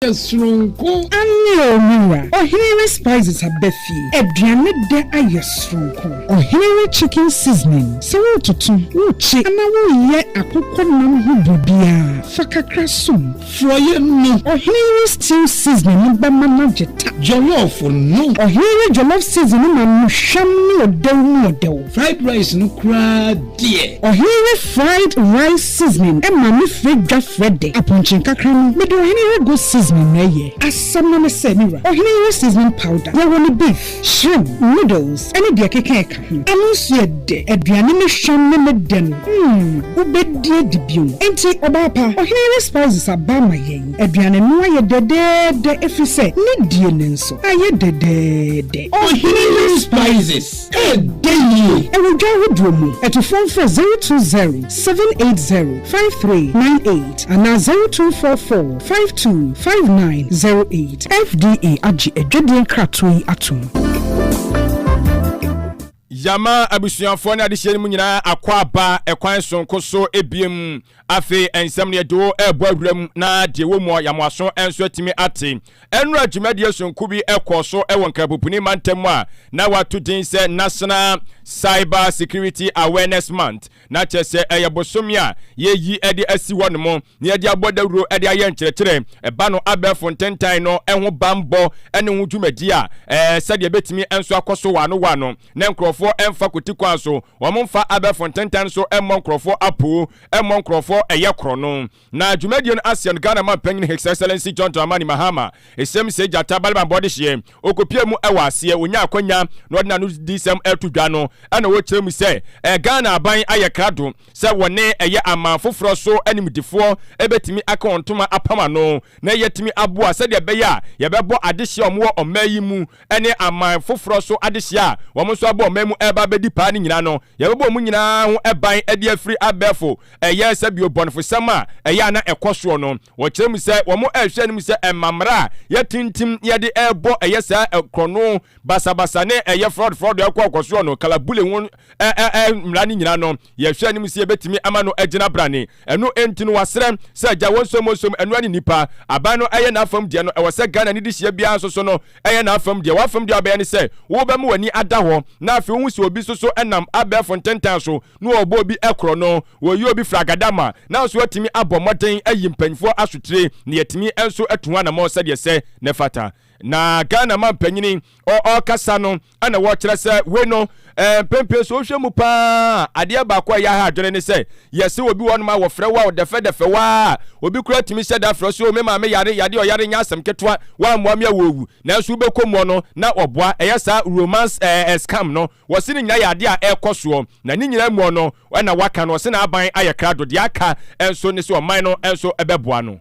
yɛ soronko. Aane, O me wura, ɔhene re spices aba fie, aduane dɛ ayɛ soronko. Ɔhene re chicken seasoning, sɛ woretoto, worekye anaa woreyɛ akokɔ nam ho biribiara, fa kakra som. Forɔeɛ no. Ɔhene re stew seasoning no bɛma no agye ta. Jollof no. Ɔhene re jollof seasoning no ma no hwam ne ɔdɛw mu ɔdɛw. Fried rice no koraa deɛ. Ɔhene yɛ fried rice seasoning ma me frɛ dwa frɛ dɛ aponkye nkakra no mede ɔhene yɛ go seasoning na ɛyɛ. Asɛm no ne sɛ me wura ɔhene yɛ seasoning powder yɛ wɔ ne beef, shrimp, noodles ne deɛ ɛkeka ɛka ho. Ɛno nso yɛ dɛ. Aduane me hwam ne me dɛ no mm wobɛdi adi bio. Enti ɔbaa pa ɔhene yɛ spices aba ama yɛn. Aduane no ayɛ dɛdɛɛdɛ ɛfiri sɛ ne die no nso ayɛ dɛdɛɛdɛ. Ɔhene yɛ spices. Ɛɛdɛ yie! Wɔ dwa ahodoɔ mu. To fon frɛ 020 780 5398 anaa 0244 52 5908. FDA agye adwadie nkratoɔ yi atom. Yama abusuafoɔ ne adehyeɛ no mu nyinaa akɔ aba ɛkwan sonko so ebiem. Afei nsɛm no yɛde wo ɛrebɔ awuram na deɛ wɔ mu a yɛamoaso nso atumi ate. Nnora dwumadie sononko bi kɔɔ so wɔ Nkrapopuni mantam mu a na wɔato din sɛ National Cyber Security Awareness Month, na kyerɛ sɛ ɛyɛ bosome a yɛayi de asi hɔnom na yɛde abɔ dawuro de ayɛ nkyerɛkyerɛ ɛba no abɛɛfo ntentan no ho bammɔ ne ho dwumadie a sɛdeɛ ɛbɛtumi nso akɔ so wɔ ano wɔ ano na nkurɔfoɔ mfa kwati kwan so wɔmfa abɛɛfo ntentan no so mmɔ nkurɔfoɔ apoo, mmɔ nkurɔfoɔ ɛyɛ korɔno. Na dwumadie no aseɛ no, Ghana man panyin His Excellency John Dramani Mahama, Esem Sey Gyata, Baliban Bɔdehyeɛ, ɔkɔpuee mu wɔ aseɛ, ɔnyaa akwanya na ɔde n'anodisɛm reto dwa no, ɛna ɔkyerɛ mu sɛ ɛɛ Ghana aban ayɛ krado sɛ wɔne ɛyɛ aman foforɔ so animdefoɔ bɛtumi aka wɔn ntoma apam ano na yɛatumi aboa sɛdeɛ ɛbɛyɛ a yɛbɛbɔ adehyeɛ a wɔwɔ ɔman yi mu ne aman foforɔ so adehyeɛ a wɔn nso abɔ ɔman mu reba abɛdi paa no nyinaa no Yɛbɛbɔ wɔn nyinaa ho ban de afiri abɛɛfo. Ɛyɛ sɛ bio bɔnefosɛm a ɛyɛ a na ɛkɔ soɔ no, wɔkyerɛ mu sɛ wɔrehwɛ anim sɛ ɛmma mmara a yɛatintim na yɛde rebɔ ɛyɛ saa korɔno, basabasa ne ɛyɛ frɔdfrɔdo a ɛkɔ ɔkɔ soɔ no, kalabule ho mmara no nyinaa no, yɛhwɛ anim sɛ yɛbɛtumi ama no agyina brane. Ɛno nti no, wɔasrɛ sɛ gya wɔnsom wɔnsom ɛnoa ne nnipa. Aban no yɛ n'afam deɛ no, ɛwɔ sɛ Ghana ne dehyeɛ biara nso so no, Ɛyɛ n'afam deɛ. W'afam deɛ a wobɛyɛ ne sɛ wobɛma w'ani ada hɔ na afei wohu sɛ obi soso nam abɛɛfo ntentan so na wɔrebɔ obi korɔno, wɔreyi obi firi agadama, nanso woatumi abɔ mmɔden ayi mpanimfoɔ asotire na yɛatumi nso atu ho anammɔn sɛdeɛ ɛsɛ na ɛfata. Na Ghana mampanyini ɔrekasa no, ɛna wɔkyerɛ sɛ wei no eh, mpempem so wohwɛ mu paa adeɛ baako a ɛyɛ ha adwene ne sɛ yɛse obi wɔ nom a wɔfrɛ wo a ɔdɛfɛdɛfɛ waa obi kora tumi hyɛ da frɛ so o me maame yare yade ɔyare nyɛ asɛm ketewa woammoa me a wɔwu nanso wobɛkɔ mu ɔno na ɔboa ɛyɛ saa romance eh, eh, scam no wɔse ne nyina yɛ adeɛ a ɛkɔ soɔ na ne nyina mu ɔno ɛna waka no ɔse na aban ayɛ krado deɛ aka nso ne sɛ ɔman no nso ɛbɛboa no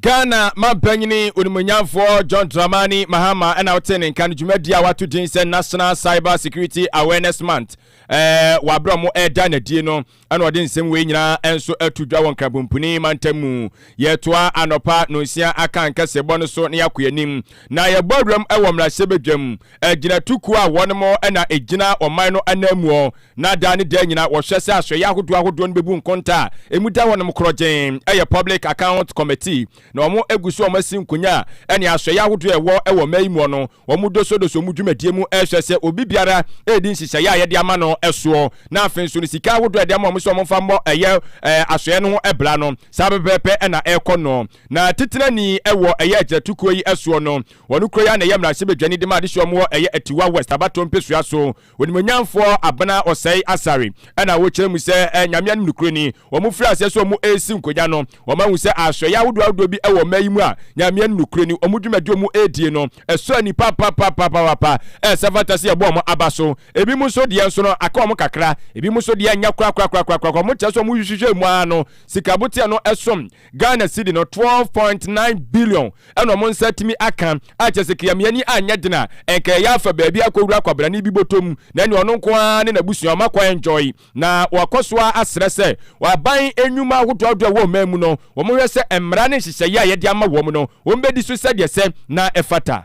ghana mampanyini onimonyamfoɔ john dramani mahama ɛna wote ne nka no dwumadi a wato din sɛ national cyber security awareness month ɛɛ wabrɛ mo ɛda nadie no ɛna ɔde nsɛm wei nyinaa ɛnso ɛto dwa wɔ nkrabompuni mantam mu yɛtoa anɔpa nonsia aka nkɛseɛbɔ no so na yɛakɔ yɛn anim na yɛbɔ awuram ɛwɔ mmarahyɛ badwam ɛgyinatukuo a wɔn mo ɛna ɛgyina ɔman no ananmuo na daa ne daa nyinaa wɔhwɛ sɛ asoɛeɛ ahodoɔ ahodoɔ no bɛbu nkonta a ɛmu da hɔnom korɔgyenn yɛ Public Accounts Committee, na wɔn agu so a wɔn asi nkonya ne asoɛeɛ ahodoɔ a ɛwɔ wɔ mmaa yi muɔ no, wɔn dosodoso mu dwumadie mu rehwɛ sɛ obi biara redi nhyehyɛeɛ a yɛde ama no soɔ, na afei nso no sika ahodoɔ a yɛde ama wɔn sɛ wɔmfa mmɔ ɛyɛ asoɛeɛ no ho bra no, saa pɛpɛɛpɛ na ɛrekɔ no. Na Titenani wɔ ɛyɛ agyinatukuo yi soɔ no, wɔn kuro yi ara na ɛyɛ mmarahyɛbadwani de ma adehyeɛ wɔn wɔ ɛyɛ Atiwa West, Abatɔ mpesua so. Onimuonyamfoɔ Abena Osei Asare na wokyerɛ mu sɛ Nyame anom nokorɛni. Wɔn firi aseɛ sɛ wɔn resi nkonnwa no, wɔn ahu sɛ asoɛeɛ ahodoɔ ahodoɔ bi wɔ mmaa yi mu a Nyame anom nokorɛni. Wɔn dwumadie a wɔn redie no sɔ ani papapapapaapa a sɛ fata sɛ yɛbɔ wɔn aba so. Ebinom nso deɛ nso no aka wɔn kakra, ebinom nso deɛ nyɛ korakorakorakorakoraa. Wɔkyerɛ sɛ wɔn hwehwehwɛ mu ara no sika boteɛ no som. Ghana cedi no twelve point nine billion na wɔn nsa atumi aka, a kyerɛ sɛ Kiamie ani anyɛ den a, ɛnka ɛyɛ afa baabi akɔwura kwabrane bi bɔtɔ mu, na ɛnneɛ ɔno nko ara ne n'abusua wɔn akɔ enjoy. Na wɔakɔ so ara asrɛ sɛ aban nnwuma ahodoɔ ahodoɔ a ɛwɔ ɔman mu no, wɔnhwɛ sɛ mmara ne nhyehyɛeɛ a yɛde ama wɔn no, wɔbɛdi so sɛdeɛ ɛsɛ na ɛfata.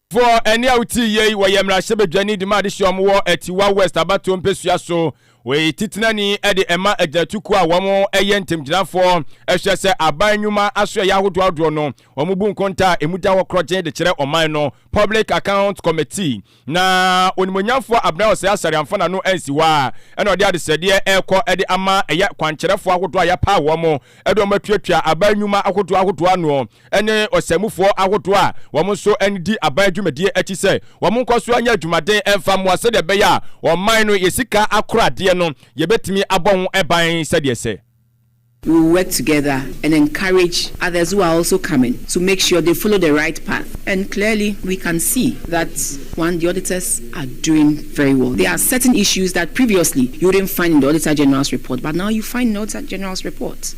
Foɔ, ɛne a wotie yei, wɔyɛ mmarahyɛbadwani de ma adehyeɛ a wɔwɔ Atiwa West abatoɔ mpɛsua so. Wei titenani de ɛma agyinatukuo a wɔyɛ ntamgyinafoɔ hwɛ sɛ aban nnwuma asoɛeɛ ahodoɔ ahodoɔ no, wɔbu nkontaa a ɛmu da hɔ korɔgyenn de kyerɛ ɔman no, Public Accounts Committee. Na Onimuonyamfoɔ Abena Osei Asare amfa n'ano ansi hɔ ara na ɔde adesrɛdeɛ rekɔ de ama ɛyɛ kwankyerɛfoɔ ahodoɔ a yɛapaw wɔn de wɔn atuatua aban nnwuma ahodoɔ ahodoɔ ano ne ɔsɛmufoɔ ahodoɔ a wɔn nso di aban adwumadie akyi sɛ wɔn nkɔsoɔ nyɛ adwumaden mfa mmoa sɛdeɛ ɛbɛyɛ a ɔman no yɛ sika akoradeɛ no yɛbɛtumi abɔ ho ban sɛdeɛ ɛsɛ. We will work together and encourage others who are also coming to make sure they follow the right path and clearly we can see that one the auditors are doing very well. There are certain issues that previously you wouldn't find in the Auditor General's report but now you find in the Auditor General's report.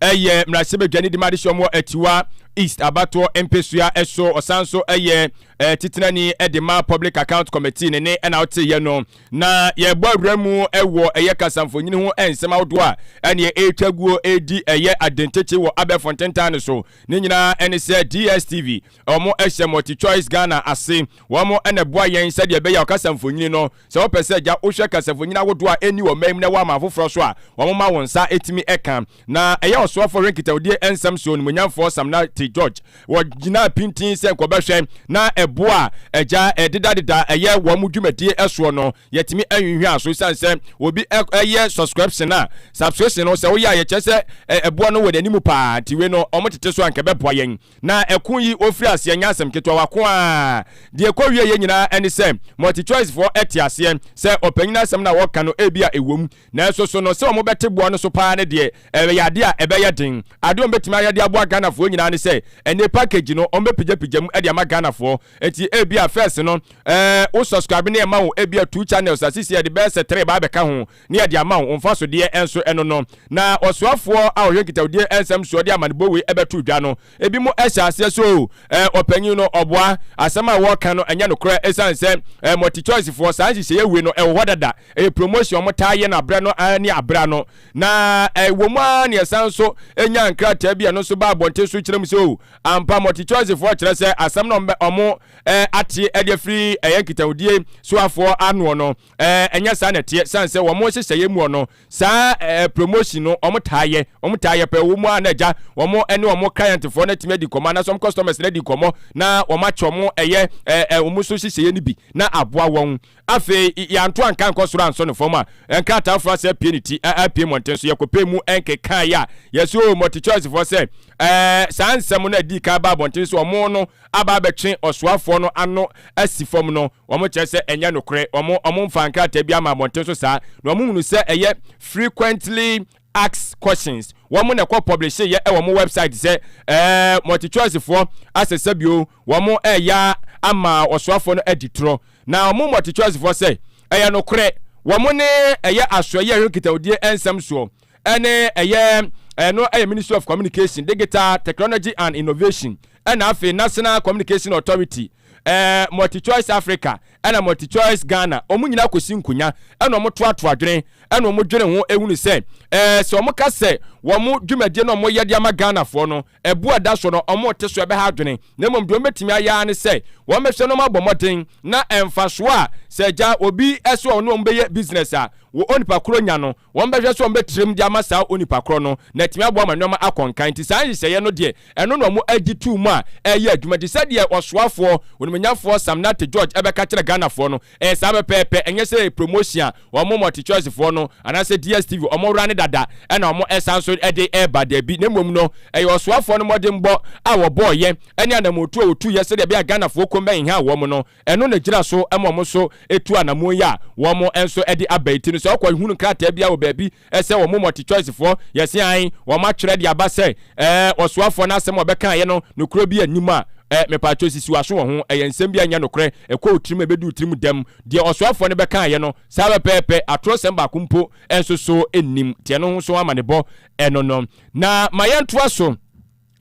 Ɛyɛ mmarahyɛbadwani de ma adesua wɔ Atiwa East abatoɔ mpesua so. Ɔsan so yɛ eh, titenani de ma Public Account Committee ne ne ɛna woteyɛ no. Na yɛbɔ awura mu wɔ ɛyɛ kasamfonyini ho nsɛm ahodoɔ a ɛneɛ ɛretwa guo ɛredi ɛyɛ adenkyekye wɔ abɛɛfo ntentan no so. Ne nyinaa ɛne sɛ DSTV, wɔn ɛhyɛ Multi Choice Ghana ase. Wɔn ɛna ɛboa yɛn sɛdeɛ ɛbɛyɛ ɔkasamfonyini no Sɛ wopɛ sɛ gya wohwɛ kasafonyin ahodoɔ a ɛnni wɔ mmae mu na woama afoforɔ nso a, wɔma wo nsa tumi ka. Na ɛyɛ ɔsoafoɔ hwɛ nkitahudie nsɛm so onimuonyamfoɔ Samna T. George. Wɔgyinaa pintinn sɛ nkɔbɛhwɛ na ɛboɔ a agya dedadeda yɛ wɔ wɔn dwumadie soɔ no yɛtumi anwinhwia so ɛsiane sɛ obi yɛ sɔskrɛpsen a subscription no sɛ woyɛ a yɛkyerɛ sɛ ɛboɔ no wɔ n'anim paa nti wei no wɔtete so a nka ɛbɛboa yɛn Na ɛko yi ɔfiri aseɛ nyɛ asɛm ketewa, wako aa. Deɛ ɛkɔ wieɛ yɛ nyinaa ɛne sɛ multichoice foɔ ɛte aseɛ sɛ ɔpanyin asɛm no a wɔka no ebia ɛwɔ mu nanso so no sɛ wɔn bɛte boɔ no so paa no deɛ ɛyɛ adeɛ a ɛbɛyɛ den. Adeɛ wɔn bɛtumi ayɛ de aboa Ghana foɔ nyinaa ne sɛ ɛnɛ package no wɔn bɛpigya pigya mu de ama Ghana foɔ nti ebia first no ɛɛ wo subscribe no yɛ ma wo ebia two channels a seisei ɛde bɛyɛ sɛ three baa bɛka ho ne yɛde ama wo, wo mfasodeɛ nso no no. Na ɔsoafoɔ a ɔhwɛ nkitawdie nsɛm soɔ de amanebɔ wei bɛto dwa no, ebinom hyɛ aseɛ sɛ o, ɔpanin no ɔboa, asɛm a wɔreka no nyɛ nokorɛ ɛsiane sɛ multichoicefoɔ saa nhyehyɛeɛ wei no ɛwɔ hɔ dada, ɛyɛ promotion, wɔtaa yɛ no aberɛ no ara ne aberɛ ano. Na ɛwɔ mu ara na yɛsan nso nyaa nkrataa bi a ɛno nso baa abɔnten so kyerɛ mu sɛ o, ampa multichoicefoɔ kyerɛ sɛ asɛm no a wɔate de afiri ɛyɛ nkitawdie soafoɔ ano no, Ɛɛ, ɛnyɛ saa na ɛteɛ, ɛsiane sɛ wɔn nhyehyɛeɛ mu no, saa ɛɛ promotion no wɔtaa yɛ, wɔtaa yɛ pɛɛ, wɔn mu ara na agya, wɔn ne wɔn clientfoɔ no atumi adi nkɔmmɔ, anaasɛ wɔn customers no adi nkɔmmɔ, na wɔakyɛ wɔn ɛyɛ ɛɛ wɔn so nhyehyɛeɛ no bi, na aboa wɔn. Afei, yɛanto anka ankɔ soro ansɔ no fam a, nkrataa foro ase apue ne ti, apue mmɔnten so, yɛkɔpɛɛ mu nkekaeɛ a, yɛse oo, multichoicefoɔ sɛ, ɛɛ, saa nsɛm no a ɛdii kan baa abɔnten sɛ wɔn no aba abɛtwe ɔsoafoɔ no ano asi fam no, Wɔn kyerɛ sɛ ɛnyɛ nokorɛ. Wɔn, wɔn nfaa nkrataa biara mmaa abɔnten so saa, na wɔn hunu sɛ ɛyɛ Frequently Asked Questions. Wɔn na ɛkɔ pɔblehyeyɛ ɛwɔ wɔn wɛbsaet sɛ, Ɛɛ, mɔltikyɔɛsefoɔ asɛ sɛ bio wɔn reyɛ ama ɔsoafoɔ no adi torɔ. Na wɔn mɔltikyɔɛsefoɔ sɛ, Ɛyɛ nokorɛ. Wɔn ne ɛyɛ asoɛyie a ɛhwɛ nkitahodie nsɛm soɔ. ɛne ɛyɛ ɛno ɛyɛ ministry of communication digital technology and innovation ɛna afei national communication authority ɛɛ multichoice africa ɛna multichoice ghana wɔn nyinaa kɔsi nkonya ɛna wɔn toatoa adwene ɛna wɔn dwene ho ehunu sɛ ɛɛ sɛ wɔn ka sɛ wɔn dwumadie na wɔn yɛ de ama ghanafoɔ no Ɛbo a ɛda so no, wɔnte so bɛha adwene, na mmom deɛ wɔbɛtumi ayɛ ara ne sɛ wɔbɛhwɛ na wɔabɔ mmɔden na mfasoɔ a sɛ agya obi sɛ ɔne wɔn bɛyɛ business a wɔ onipa korɔ nya no, wɔbɛhwɛ sɛ wɔbɛtirim de ama saa onipa korɔ no na atumi aboa ma nneɛma akɔ nkan. Nti saa nhyehyɛeɛ no deɛ, ɛno na wɔagye too mu a ɛreyɛ adwuma. Nti sɛdeɛ Ɔsoafoɔ Onimnyafoɔ Sam Nate George bɛka kyerɛ Ghanafoɔ no, Ɛyɛ saa pɛpɛɛpɛ, ɛnyɛ sɛ promotion a wɔn multichoicefoɔ no anaasɛ DSTV wɔn wura no dada na wɔn ɛsan nso de reba, daabi, na mmom no ɛyɛ ɔsoafoɔ no mmɔdenbɔ a wɔbɔɔeɛ ɛne anammɔntuo a wɔtuiɛ sɛdeɛ ɛbɛyɛ a Ghanafoɔ kɔn bɛnhia wɔn no, ɛno na ɛgyina so ma wɔn nso tu anammɔn yi a wɔn nso de aba yi, nti no sɛ wokɔ hunu krataa biara wɔ baabi, Ɛsɛ wɔn multichoicefoɔ yɛse ae wɔn atwerɛ de aba sɛ ɛɛ ɔsoafoɔ no asɛm a ɔbɛkaeɛ no nokorɛ bi nni mu a ɛɛ mepaatwɔ sisi w'aso wɔ ho ɛyɛ nsɛm bi a ɛnyɛ nokorɛ ɛkɔ wo tirim ɛbɛdu wo tirim dɛm deɛ ɔsoafoɔ no bɛkaeɛ no saa pɛpɛɛpɛ atorɔsɛm baako mpo nso so nnim nti ɛno ho nso amanebɔ ɛno no na ma yɛntoa so.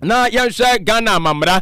na yɛnhwɛ ghana amammara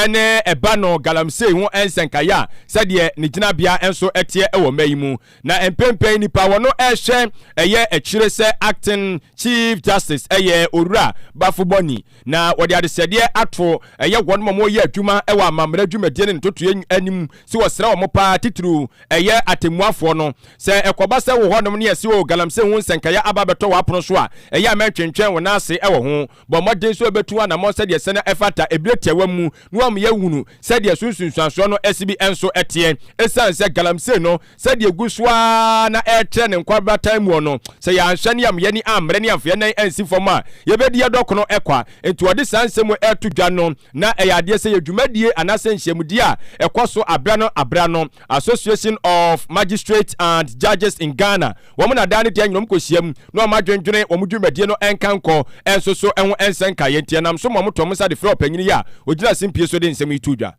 ne ɛba no galamsey ho nsɛnkaeɛ a sɛdeɛ ne gyinabea nso teɛ wɔ mma yi mu na mpempɛn nipa wɔn ɛhwɛ ɛyɛ akyire sɛ acting chief justice ɛyɛ owura bafo bɔni na wɔde adesɛdeɛ ato ɛyɛ wɔn ma wɔyɛ adwuma wɔ amammara dwumadie ne ntotoeɛ anim sɛ wɔsrɛ wɔn paa titiriw ɛyɛ atemmuafoɔ no sɛ ɛkɔba sɛ wɔ hɔnom ne ɛsi o galamsey ho nsɛnkaeɛ aba bɛtɔ wɔ apono so a ɛyɛ a mɛntwentwɛn wɔn ase wɔ ho bɔ mmɔden sɛ wɔbɛtu anammɔn sɛdeɛ sɛnea ɛfata ɛberɛ tiawa mu na wɔyɛ hunu sɛdeɛ so nsunsuansoɔ no ɛse bi nso teɛ. Ɛsiane sɛ galamsey no sɛdeɛ ɛgu so ara na ɛretrɛ ne nkwabratan muɔ no, sɛ yɛanhwɛ ne yɛameyɛ ne ammrɛ ne yɛamfa yɛn nan ansi fam a, yɛbɛdi yɛn dɔkono kwa. Enti wɔde saa nsɛm wei reto dwa no, na ɛyɛ adeɛ sɛ yɛ dwumadie anaasɛ nhyiamudie a ɛkɔ so aberɛ ano aberɛ ano, Association of Magistrates and Judges in Ghana, Wɔn na daa ne deɛ nyina wɔn kɔhyiam, na wɔn adwendwene, wɔn dwumadie no nka nkɔ, nso so ho nsɛ nkaeɛ nti, ɛnam so ma wɔtoo wɔn nsa de frɛɛ ɔpanyin yi a ɔgyina asempie so de nsɛm yi too dwa.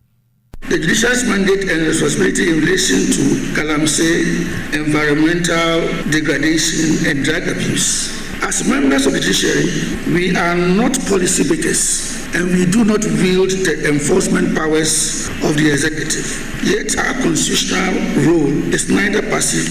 The Judiciary's Mandate and Responsibility in Relation to Galamsey Environmental Degradation and Drug Abuse, As members of the Judiciary, we are not policy makers and we do not wield the enforcement powers of the Executive, yet our constitutional role is neither passive,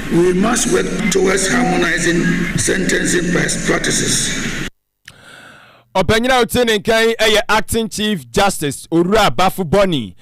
We must work towards harmonizing sentencing practices. Ɔpanyin a ɔte ne nka yi yɛ Acting Chief Justice Owura Bafo Bɔni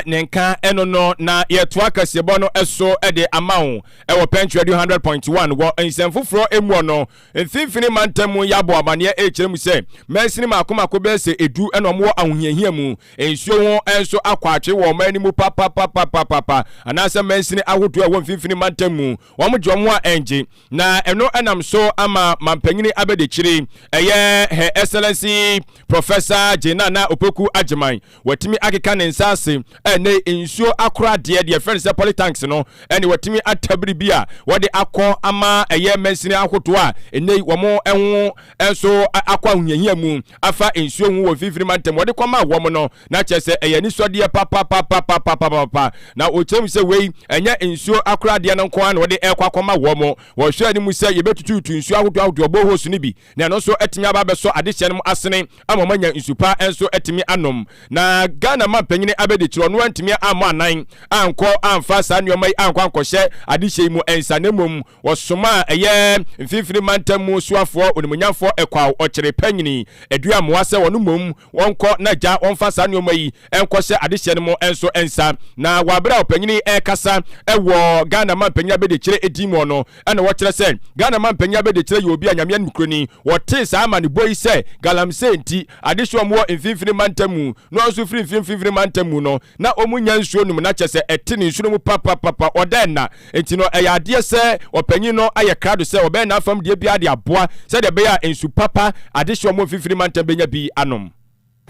ne nka ɛno no na yɛtoa kasiebɔ no so de ama wo wɔ Pɛnkyerɛ du 100.1 wɔ nsɛm foforɔ mu ɔno Mfinfini mantam mu yɛ abɔ amanneɛ rekyerɛ mu sɛ mansini mmaako mmaako bɛyɛ sɛ edu na wɔwɔ ahohiahia mu. Nsuo ho nso akɔ atwe wɔ ɔman no mu papapapapapa, anaasɛ mansini ahodoɔ a ɛwɔ mfinfini mantam mu, wɔgye wɔn a ɛngye. Na ɛno nam so ama mampanyini abɛdakyiri, ɛyɛ Her Excellency Professor Gye Nana Opoku Agyeman, Watumi akeka ne nsa ase ne nsuo akoradeɛ, deɛ yɛfrɛ no sɛ polytanks no, ɛne watumi atabiri bi a wɔde akɔ ama ɛyɛ mansini ahodoɔ a ɛnnɛ yi wɔn ho nso akɔ ahohiahia mu afa nsuo ho wɔ mfimfini mantam wɔde kɔma wɔn no na kyerɛ sɛ ɛyɛ anisɔdeɛ papapapapapapa na wɔkyerɛ mu sɛ wei ɛnyɛ nsuo akoradeɛ no nko ara na wɔde ɛkɔ akɔma wɔn wɔhwɛ anim sɛ yɛbɛtututu nsuo ahodoɔ ahodoɔ boreholes no bi na ɛno nso atumi aba abɛsɔ adehyeɛ no mu asene ama wɔn anya nsu pa nso atumi anom. Na Ghana mampanin Abedi Kyerɛ ɔno antumi ammɔ anan ankɔ amfa saa nneɛma yi ankɔ ankɔhyɛ adehyeɛ yi mu nsa na mmom wɔsomaa ɛyɛ mfimfini mantam mu soafoɔ onimunyamfoɔ Ɛkwao Ɔkyere Panyini Aduamoa sɛ wɔn mmom Wɔnkɔ na agya wɔmfa saa nnoɔma yi nkɔhyɛ adehyeɛ no mu nso nsa. Na wɔ aberɛ a ɔpanyin yi rekasa wɔ Ghana Manpanyin Abɛdekyerɛ din mu no, ɛna ɔkyerɛ sɛ Ghana Manpanyin Abɛdekyerɛ yɛ obi a Nyame anim kuro ni. Wɔtee saa amanebɔ yi sɛ galamsey nti, adehyeɛ a wɔwɔ mfimfini mantam mu no a nso firi mfiri mfimfini mantam mu no, na wɔnnya nsuo nnom na kyerɛ sɛ ɛte ne nsuo no mu papapapa, ɔda nna. Enti no, ɛyɛ adeɛ sɛ ɔpanyin no ayɛ krado sɛ ɔbɛyɛ n'afam deɛ biara de aboa sɛdeɛ ɛbɛyɛ a nsu papa, adehyeɛ a wɔmmɔ mfimfini mantam bɛnya bi anom.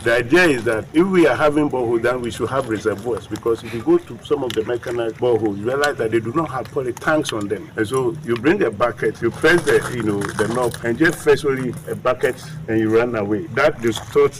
The idea is that if we are having borehole then we should have reservoirs because if you go to some of the mechanized boreholes you realize that they do not have poly tanks on them and so you bring a bucket you press the you know the knob and just fetch only a bucket and you run away that distort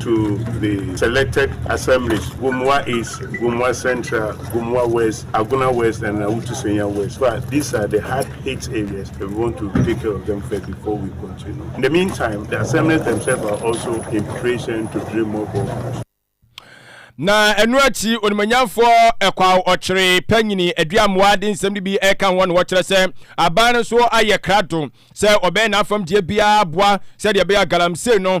to the selected assemblies, Gomoa East, Gomoa Central, Gomoa West, Agona West and Awutu Senya West. So these are the hard hit areas that we want to take care of them first before we continue. In the meantime, the assemblies themselves are also in preparation to drill more boreholes. na ɛno akyi onimanyamfoɔ ɛkwaw ɔkyere panyini aduamoa de nsɛm no bi ɛka ho na wɔkyerɛ sɛ aban no nso ayɛ krado sɛ ɔbɛyɛ n'afamdeɛ biara boa sɛdeɛ ɛbɛyɛ galamsey no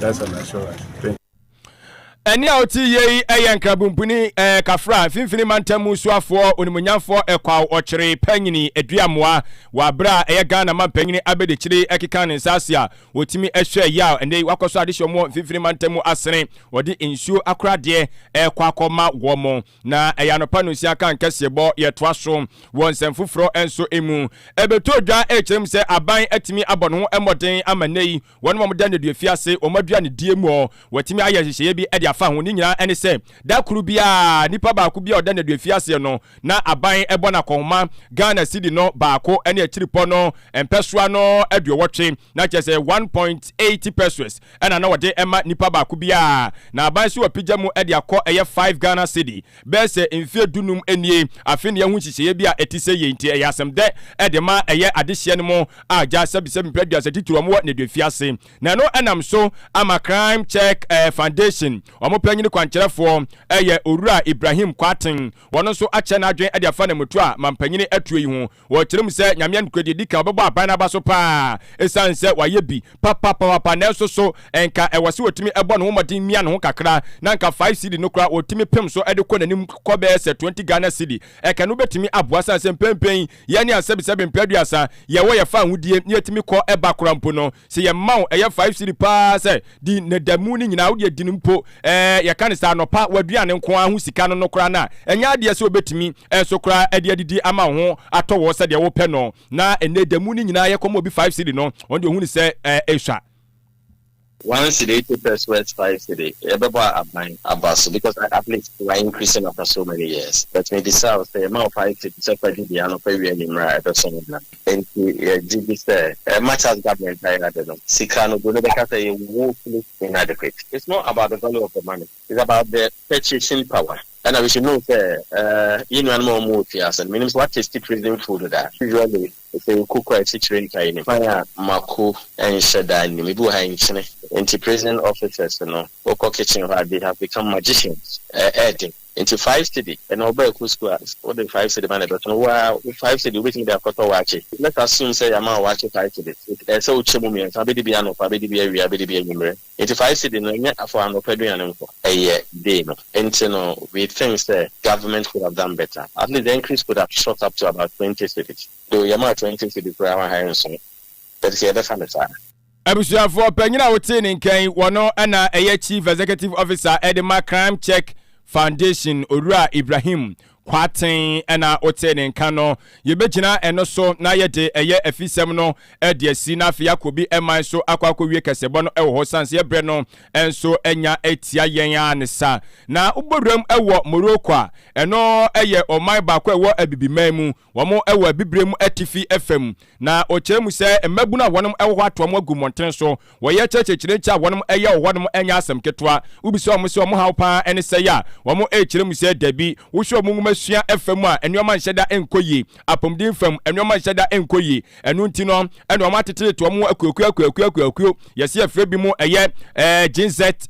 That's an assurance. Thank ɛne a ɔte yie yi yɛ nkrabumpuni ɛɛ kafra mfimfini mantam mu suafoɔ onimunyamfoɔ ɛkwaw ɔkyere panyini aduamoa wɔ abere a ɛyɛ ghana mampanyini abɛdikyiri ɛkeka ne nsa ase a wɔtumi ɛhwɛ yaw ɛnɛ wakɔ so adehyɛ wɔn mfimfini mantam mu asene wɔde nsuo akoradeɛ ɛkɔ akɔma wɔn Na ɛyɛ anɔpa nonsia kan kɛseɛ bɔ yɛtoa so wɔ nsɛm foforɔ nso mu. Ɛbɛtɔɔ dwa rekyerɛ mu sɛ aban atumi abɔ ne ho mmɔden ama nnɛ yi wɔn a wɔda nneduafie ase wɔn aduanedie mu hɔ wɔatumi ayɛ nhyehyɛeɛ bi de afa ho. Ne nyinaa ne sɛ da koro biara nipa baako biara a ɔda nneduafie aseɛ no na aban bɔ no akɔnhoma Ghana cedi no baako ne akyiripɔ no mpɛsoa no aduowɔtwe. Na kyerɛ sɛ one point eighty pesewas ɛna na wɔde ma nipa baako biara, na aban nso apigya mu de akɔ ɛyɛ five Ghana cedi. Bɛyɛ sɛ mfeɛ du num nie, afe na yɛahu nhyehyɛeɛ bi a ɛte sɛ yei, nti ɛyɛ asɛm dɛ de ma ɛyɛ adehyeɛ no mu agya sɛbisɛbi mpere aduasa titire wɔn wɔ nneduafi ase. Na ɛno nam so ama Crime Check Foundation wɔn panyini kwankyerɛfoɔ ɛyɛ Owura Ibrahim Kwarteng wɔn nso akyerɛ n'adwene de afa Namutua mampanyini atuo yi ho. Wɔkyerɛ mu sɛ Nyame Anokura Deɛ Ɛdi Kan Ɔbɛbɔ Aban no aba so paa ɛsiane sɛ wayɛ bi papapapapa nanso so nka ɛwɔ sɛ ɔtumi bɔ ne ho mmɔden mia ne ho kakra na nka 5 cedi no koraa ɔtumi pem so de kɔ n'anim kɔ bɛyɛ sɛ 20 Ghana cedi ɛka no bɛtumi aboa ɛsiane sɛ mpɛnpɛn yi yɛne asɛbesɛbe mprɛ aduasa yɛwɔ yɛfa ahodie na yɛtumi kɔ ba koraa mpo no Sɛ yɛma wo ɛyɛ five cedi paa sɛ di na da mu no nyinaa wode adi no mpo ɛɛ yɛka no saa anɔpa w'aduane nko ara ho sika no no koraa no a, ɛnyɛ adeɛ sɛ wɔbɛtumi nso koraa de adidi ama wo ho atɔ wo sɛdeɛ wopɛ no na ɛnnɛ da mu no nyinaa yɛkɔma obi five cedi no ɔno deɛ ɔhunu sɛ ɛɛ ɛsua. One cedi ate pɛs wɛs five cedi yɛbɛbɔ a aban aba so because at least wa increase no after so many years but mebisa wo sɛ yɛma wo five cedi sɛ fa di deɛ anɔpa wia anwummerɛ a ɛbɛsɔ wo hena? Enti yɛgye di sɛ ɛremma Charles Gardner ntaa yɛn ade no, sika no, Broni bɛka sɛ ɛyɛ woefully inadequate. It's not about the value of the money, it's about the purchasing power. Ɛna we should know sɛ yɛn nuanom a wɔwɔ fie ase no, menim sɛ wɔatesti prison food da. Usually sɛ yɛkɔ kɔ a, asikyire nka yɛn anim. Kwan a mako nhyɛ da nnim. Ebi wɔ ha a nkyene nti prison officers no, wokɔ kitchen hɔ a, they have become magicians. Ɛyɛ den. Nti five cedi ɛna ɔba ɛko sukuu a wode five cedi ma na ɛbɛso no woaa wo five cedi wobɛtumi de akɔtɔ waakye let assume sɛ yɛama wo waakye five cedi ɛsɛ wo kyɛ mu mmiɛnsa abɛdi bi anɔpa abɛdi bi awia abɛdi bi anwumerɛ nti five cedi no ɛnyɛ for anɔpa aduane nko ɛyɛ day no nti no we think sɛ government could have done better at least the increase could have shot up to about twenty cedi though yɛmaa twenty cedi koraa ma ha nso but sɛ yɛbɛfa no saa. Abusuafoɔ panyin a wotee ne nka yi, wɔno na ɛyɛ Chief Executive Officer de ma Crime Check Foundation, Owura Ibrahim Kwarteng na wotee ne nka no. Yɛbɛgyina ɛno so na yɛde ɛyɛ afisɛm no de asi na afei akɔ bi man so akɔ akɔwie kɛsɛbɔ no wɔ hɔ sane sɛ yɛbrɛ no nso anya atia yɛn ara ne sa. Na wobɔ wuram wɔ Morocco a, ɛno yɛ ɔman baako a ɛwɔ Abibiman mu. Wɔwɔ abibirem atifi fam, na ɔkyerɛ mu sɛ mmabunu a wɔn wɔ hɔ atoa mu agu mmɔntene so. Wɔyɛ kyerɛkyerɛkyerɛ nti a wɔn yɛ wɔ hɔnom nyɛ asɛm ketewa. Wobisa wɔn sɛ wɔn haw paa ne sɛn a, wɔkyerɛ mu sɛ dabi. Wohwɛ wɔn nwoma sua fa mu a, nneɛma nhyɛ da nkɔ yie. Apɔmuden fam, nneɛma nhyɛ da nkɔ yie. Ɛno nti no, na wɔatetetete wɔn ho akuakuo akuakuo akuakuo. Yɛse yɛfrɛ binom ɛyɛ Ginzet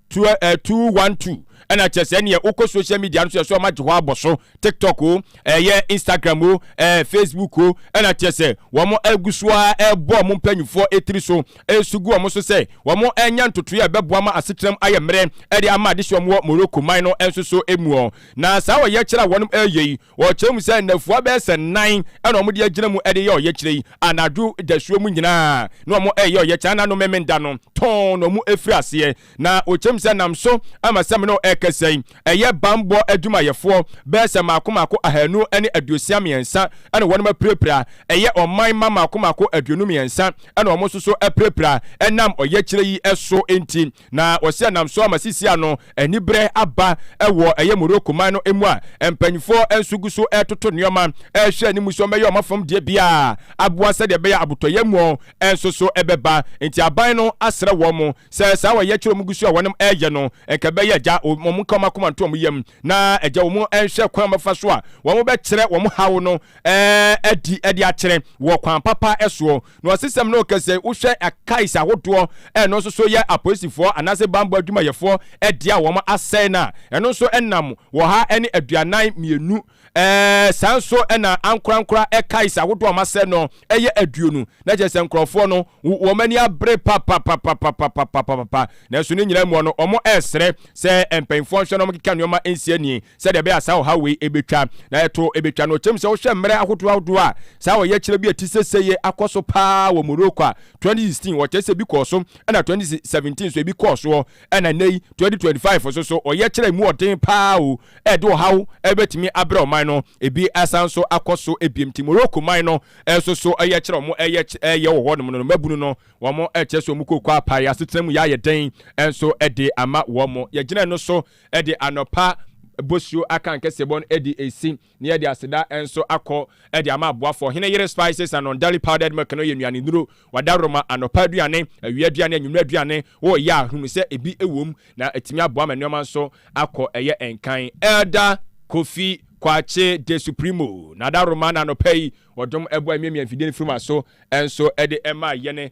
212. ɛna kyɛ sɛ neɛ wokɔ social media no so ɛsɛ ɔma gye hɔ abɔ so tiktok o ɛyɛ instagram o ɛɛ facebook o ɛna kyɛ sɛ wɔn agu so a ɛbɔ wɔn mpanyinfoɔ etiri so ɛsu gu wɔn so sɛ wɔn ɛnya ntotoeɛ a ɛbɛboa ma asetram ayɛ mmerɛ ɛde ama ade sɛ wɔn wɔ morocco man no nso so emu ɔ na saa ɔyɛkyerɛ a wɔn ɛyɛ yi wɔkyerɛ mu sɛ nnafua bɛyɛ sɛ nan ɛna wɔn de agyina mu ɛde yɛ ɔyɛkyerɛ yi anadwo dasuo mu nyinaa na wɔn ɛyɛ ɔyɛkyerɛ ananom menda no tɔn na wɔn ɛfiri aseɛ Na okyem sɛ nam so ama sɛ me ne wo ɛrekasa yi, ɛyɛ banbɔ adwumayɛfoɔ bɛyɛ sɛ mmaako mmaako ahanu ne aduosia mmiɛnsa na wɔnom apirapira, ɛyɛ ɔman mma mmaako mmaako aduonu mmiɛnsa na wɔn nso so apirapira ɛnam ɔyɛkyerɛ yi so nti. Na ɔse ɛnam so ama sisi ano aniberɛ aba wɔ ɛyɛ Morocco man no mu a mpaninfoɔ nso gu so ɛretoto nnoɔma ɛrehwɛ anim sɛ wɔbɛyɛ wɔn afam deɛ biara aboa sɛdeɛ ɛbɛyɛ abotɔyɛ mu nso so ɛbɛba nti aban no asrɛ wɔn Sɛ saa wɔyɛ kyerɛ wɔn gu so a wɔnom ɛyɛ no, nka ɛbɛyɛ agya wɔn nka wɔn akoma nto wɔn yam, na agya wɔn nhwɛ kwan a wɔbɛfa so a wɔn bɛkyerɛ wɔn haw no adi de akyerɛ wɔ kwan papa soɔ. Na ɔsesɛm no reka sɛ wohwɛ kais ahodoɔ a ɛno nso so yɛ apolisifoɔ anaasɛ bammɔ adwumayɛfoɔ dea a wɔn asɛe no a, ɛno nso nam ɔha ne aduanan mmienu Ɛɛ, saa nso na ankorankora kaes ahodoɔ a wɔasɛ no yɛ aduonu, na kyerɛ sɛ nkurɔfoɔ no wɔn ani abere papapapapapapapapa, nanso ne nyinaa mu no wɔresrɛ sɛ mpanimfoɔ nhwɛ na wɔnkeka nneɛma nsi ani sɛdeɛ ɛbɛyɛ a saa ɔhaw wei bɛtwa, na ɛto bɛtwa no. Kyerɛ mu sɛ wohwɛ mmerɛ ahodoɔ ahodoɔ a saa ɔyɛkyerɛ bi a ɛte sese yi akɔ so pa ara wɔ Morocco a, 2016 wɔkyerɛ sɛ ebi kɔɔ so, ɛna 2017 nso ebi kɔɔ soɔ Ɛna nnɛ yi, 2025 nso so, ɔyɛkyerɛ mu ɔden paa o, ɛde ɔhaw bɛtumi abrɛ ɔman no. Ebi asan nso akɔ so biom nti, Morocco man no nso so ɔyɛkyerɛ a wɔyɛ wɔ hɔnom no, no mmabunu no, wɔkyerɛ sɛ wɔn kooko apae, asetena mu yɛ ayɛ den nso de ama wɔn. Yɛgyina ɛno so de anɔpa bosuo aka nkɛseɛbɔ no de resi Na yɛde aseda nso akɔ de ama aboafo. Ɔhene yere spices and unduly powdered milk no yɛ nnuane nnuro, wɔadaworoma, anɔpa aduane, awia aduane, anwummere aduane. Wɔ yɛ a, hunu sɛ ebi wɔ mu, na atumi aboa ma nneɛma nso akɔ ɛyɛ nkan. Elder Kofi Kwakye De Supremo na adaworoma na anɔpa yi wɔdom ɛboa emiamia mfidie no firi ma so nso de maa yɛne.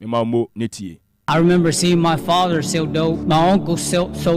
Me ma mo ne tie. I remember seeing my father so dope, my uncle so so.